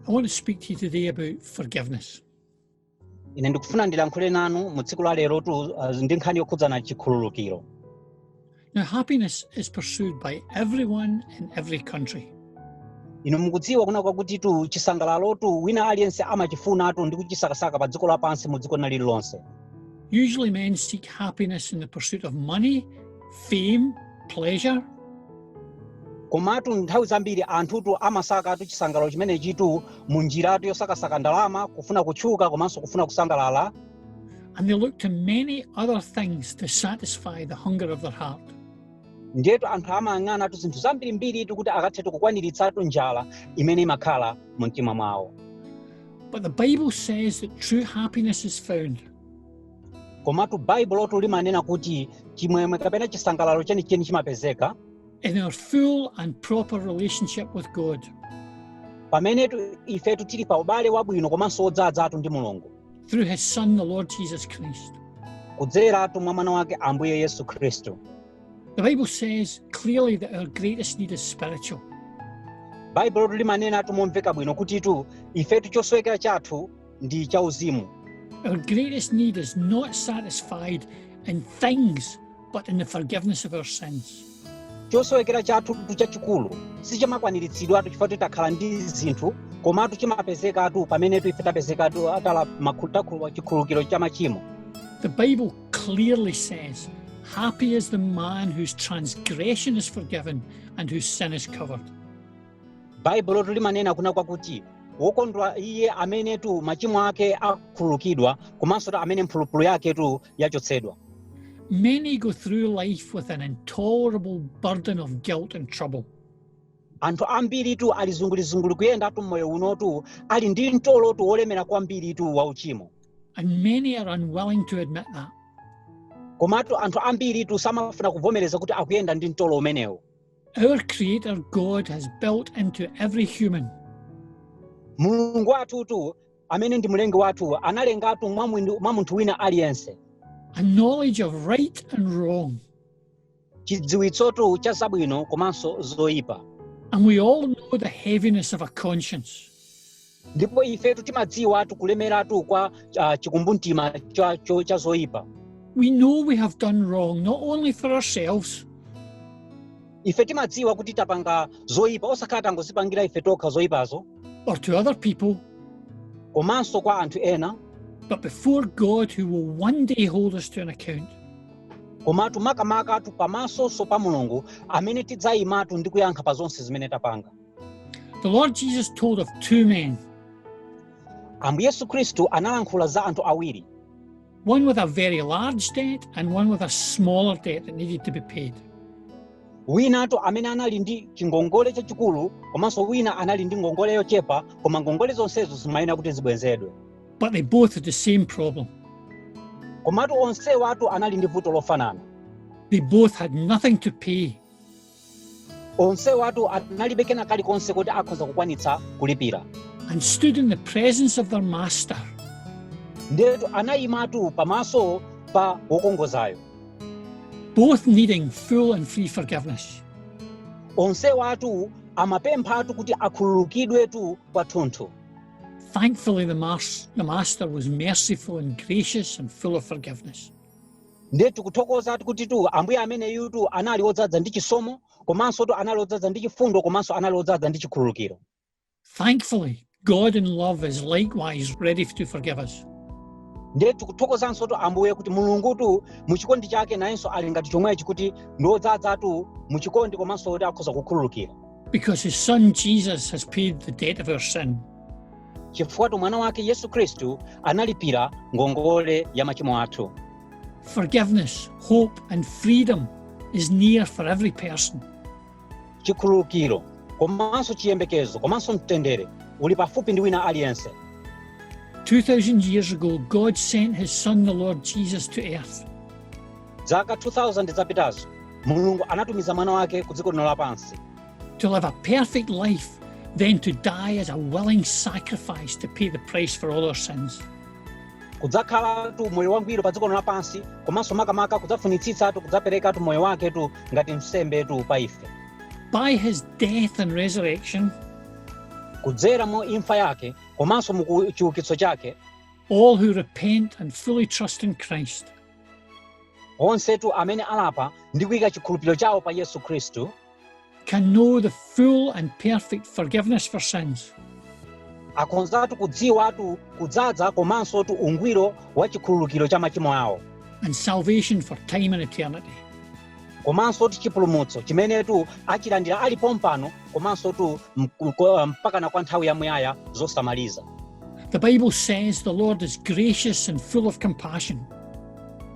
I want to speak to you today about forgiveness. ine ndikufuna ndilankhule nanu mu tsiku la lero tu uh, ndi nkhani yokhudzana chikhululukiro Now, happiness is pursued by everyone in every country. inu mukudziwa kunena kwakuti tu chisangalalotu wina aliyense amachifunatu ndi kuchisakasaka pa dziko lapansi mu dziko lina lililonse Usually men seek happiness in the pursuit of money, fame, pleasure. komatu nthawi zambiri anthutu amasakatu chisangalalo chimenechitu mu njiratu yosakasaka ndalama kufuna kutchuka komanso kufuna kusangalala And they look to many other things to satisfy the hunger of their heart. ndiyetu anthu amayang'anatu zinthu zambirimbiritu kuti akathetu kukwaniritsatu njala imene imakhala mu mtima mwawo But the Bible says that true happiness is found komatu baibulotu limanena kuti chimwemwe kapena chisangalalo chenicheni chimapezeka in our full and proper relationship with God. pamenetu ifetu tili pa ubale wabwino komanso wodzadzatu ndi mulungu through his Son, the Lord Jesus Christ. kudzeratu mwa mwana wake ambuye yesu khristu The Bible says clearly that our greatest need is spiritual. baibulo limanenatu momveka bwino kutitu ifetu chosowekera chathu ndi chauzimu Our greatest need is not satisfied in things but in the forgiveness of our sins. chosowekera chathutu chachikulu sichimakwaniritsidwatu chifukwa kuti takhala ndi zinthu komatu chimapezekatu pamenetu ife tapezekatu atala makhu- takhulwa chikhululukiro cha machimo The Bible clearly says, Happy is the man whose transgression is forgiven and whose sin is covered. baibulotu limanena kunena kwakuti wokondwa iye amenetu machimo ake akhululukidwa komansotu amene mphulupulu yaketu yachotsedwa Many go through life with an intolerable burden of guilt and trouble. anthu ambiritu ali zungulizunguli kuyendatu mmoyo unotu ali ndi mtolotu wolemera kwambiritu wa uchimo And many are unwilling to admit that. komatu anthu ambiritu samafuna kuvomereza kuti akuyenda ndi mtolo umenewo Our Creator God has built into every human mulungu wathutu amene ndi mlengi wathu analengatu mwa mwini- mwa munthu wina aliyense a knowledge of right and wrong, chidziwitsotu cha zabwino komanso zoyipa and we all know the heaviness of a conscience. ndipo ifetu timadziwatu kulemeratu kwa ah, chikumbumtima cha- cho- cha zoyipa We know we have done wrong, not only for ourselves, ife timadziwa kuti tapanga zoyipa osakhala tangozipangira ife tokha zoyipazo or to other people, komanso kwa anthu ena but before God, who will one day hold us to an account. komatu makamakatu pamaso pa mulungu amene tidzayimatu ndi kuyankha pa zonse zimene tapanga The Lord Jesus told of two men, ambuye yesu khristu analankhula za anthu awiri one with a very large debt and one with a smaller debt that needed to be paid. winatu amene anali ndi chingongole chachikulu komanso wina anali ndi ngongole yochepa koma ngongole zonsezo zimayenera kuti zibwezedwe But they both had the same problem. komatu onsewatu anali ndi vuto lofanana They both had nothing to pay. onsewatu analibe kena kalikonse kuti akhoza kukwanitsa kulipira and stood in the presence of their master. ndiyetu anayimatu pamaso pa wokongozayo both needing full and free forgiveness. onsewatu amapemphatu kuti akhululukidwetu kwathunthu Thankfully, the, mas- the master was merciful and gracious and full of forgiveness. ndiye tikuthokoza kutitu ambuye ameneyutu anali wodzadza ndi chisomo komanso tu anali wodzadza ndi chifundo komanso anali wodzadza ndi chikhululukiro Thankfully, God in love is likewise ready to forgive us. ndiye tikuthokozanso tu ambuye kuti mulungutu mu chikondi chake nayenso ali ngati chomwechi kuti ndi wodzadzatu mu chikondi komanso woti akhoza kukhululukira Because his son Jesus has paid the debt of our sin. chifukwatu mwana wake yesu khristu analipira ngongole ya machimo athu forgiveness hope and freedom is near for every person chikhululukiro komanso chiyembekezo komanso mtendere uli pafupi ndi wina aliyense 2000 years ago god sent his son the lord jesus to earth zaka 2000 zapitazo mulungu anatumiza mwana wake ku dziko lino lapansi To live a perfect life, then to die as a willing sacrifice to pay the price for all our sins. kudzakhalatu moyo wangwiro pa dziko lino lapansi komanso makamaka kudzafunitsitsatu kudzaperekatu moyo waketu ngati nsembetu pa ife By his death and resurrection, kudzera mu imfa yake komanso mu ku- chiukitso chake all who repent and fully trust in Christ onsetu amene alapa ndi kuyika chikhulupiriro chawo pa yesu khristu can know the full and perfect forgiveness for sins. akhonzatu kudziwatu kudzadza komanso tu ungwiro wa chikhululukiro cha machimo awo and salvation for time and eternity. komanso tu chipulumutso chimene tu achilandira ali pompano komanso tu mku- ko- mpakana kwa nthawi yamuyaya zosamaliza The Bible says the Lord is gracious and full of compassion.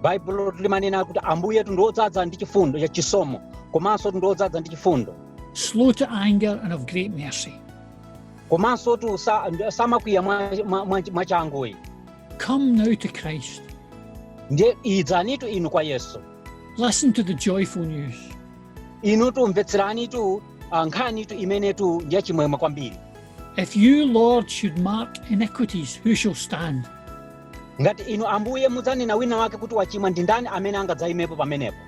baibulotu limanena kuti ambuyetu ndi odzadza ndi chifundo cha chisomo komanso tu ndi odzadza ndi chifundo slow to anger and of great mercy komanso tu sa- ndi- samakwiya mwa- mwa- mwa- mwachanguyi come now to christ ndiye idzanitu inu kwa yesu listen to the joyful news inutu mvetseranitu ah, nkhanitu imenetu ndi yachimwemwe kwambiri if you lord should mark iniquities who shall stand ngati inu ambuye mudzanena wina wake kuti wachimwa ndi ndani amene angadzaimepo pamenepo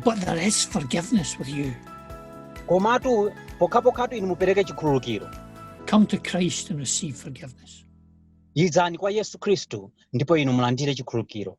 But there is forgiveness with you. komatu pokhapokhatu inu mupereke chikhululukiro Come to Christ and receive forgiveness. idzani kwa yesu khristu ndipo inu mulandire chikhululukiro